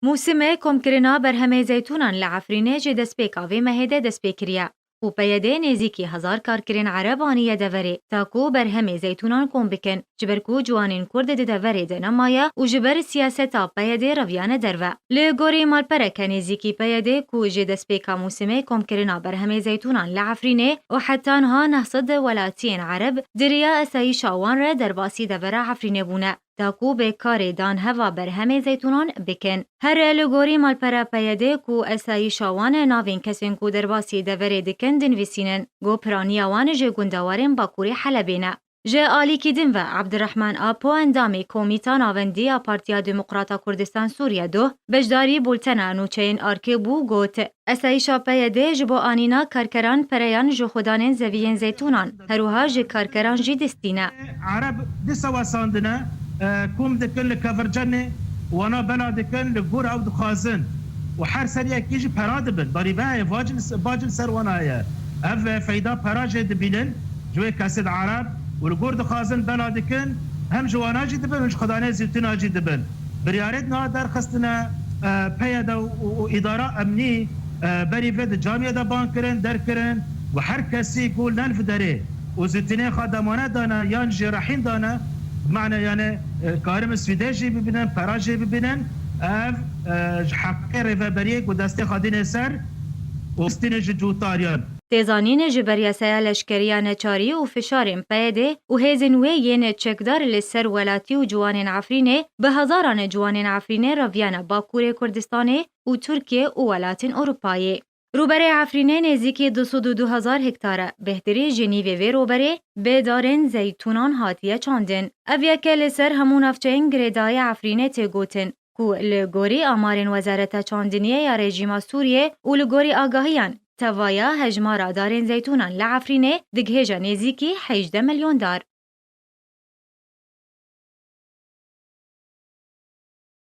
Mûsime komkirina berhemê zeytûnan li Efrînê ji destpêka vê mehê de dest pê kiriye û peyedê nêzîkî hezar karkirên Ereb aniye deverê ta ku berhemê zeytûnan kom bikin ji ber ku ciwanên Kurd di deverê de nemaye û ji ber siyaseta peyedê reviyane derve. Li gorî malpereke nêzîkî peyedê ku ji destpêka mûsime komkirina berhemê zeytûnan li Efrînê û heta niha neh sed welatiyên Ereb di riya esayîşa wan re derbasî devera Efrînê bûne, ta ku bê karê dan heva berhemê zeytûnan bikin. Her li gorî malpera PYD'ê ku esayîşa wan e navên kesên ku derbasî deverê dikin dinvîsînin ku piraniya wan ji gundewarên Bakûrê Helebê ne. Ji alîkî din ve Abdirehman Apo endamê Komîta Navendî ya Partiya Demokrata Kurdistan Sûriye du beşdarî bultena nûçeyên ARK'ê bû got, Esayîşa PYD'ê ji bo anîna karkeran pereyan ji xwedanên zeviyên zeytûnan, herwiha ji karkeran jî dist tîne. Ereb di sewesandine kom dikin li Kevircenê wana bela dikin li gor ew dixwazin û her ser yekî jî pera dibin barîvehê bacil ser wan heye ev feyda pera jê dibînin ji wê kesed ereb û li gor dixwazin bela dikin hem ji wana jî dibin û ji xwedanê zîtûna jî dibin. Biryarên niha derxistine PYD û îdara emnî berî vê di camiyê de bang kirin, derg kirin û her kesî ku len vi derê û zûtinên xwe demanet dane yan jî rehîn dane bimane yanê karibin swîdê jî bibînin, pera jî bibînin ev ji heqê rêveberiyê ku destê xwe dînê ser û bistînin ji cûtariyan. tê zanîn ji ber yaseya leşkeriya neçarî û fişarên PYDê û hêzên wê yên çekdar li ser welatî û ciwanên Efrînê bi hezaran ciwanên Efrînê reviyane Bakurê Kurdistanê û Tirkiye û welatên Ewropayê. Rûberê Efrînê nêzîkî du sed û du hezar hektar e. Bêhtirî ji nîvê vê rûberê bê darên zeytûnan hatiye çandin. Ev yek e li ser hemû navçeyên girêdayî Efrînê tê gotin. ku li gorî amarên Wezareta Çandiniyê ya rejîma Sûriyê û li gorî agahiyan, tevaya hejmara darên zeytûnan li Efrînê digihêje nêzîkî hejdeh milyon dar.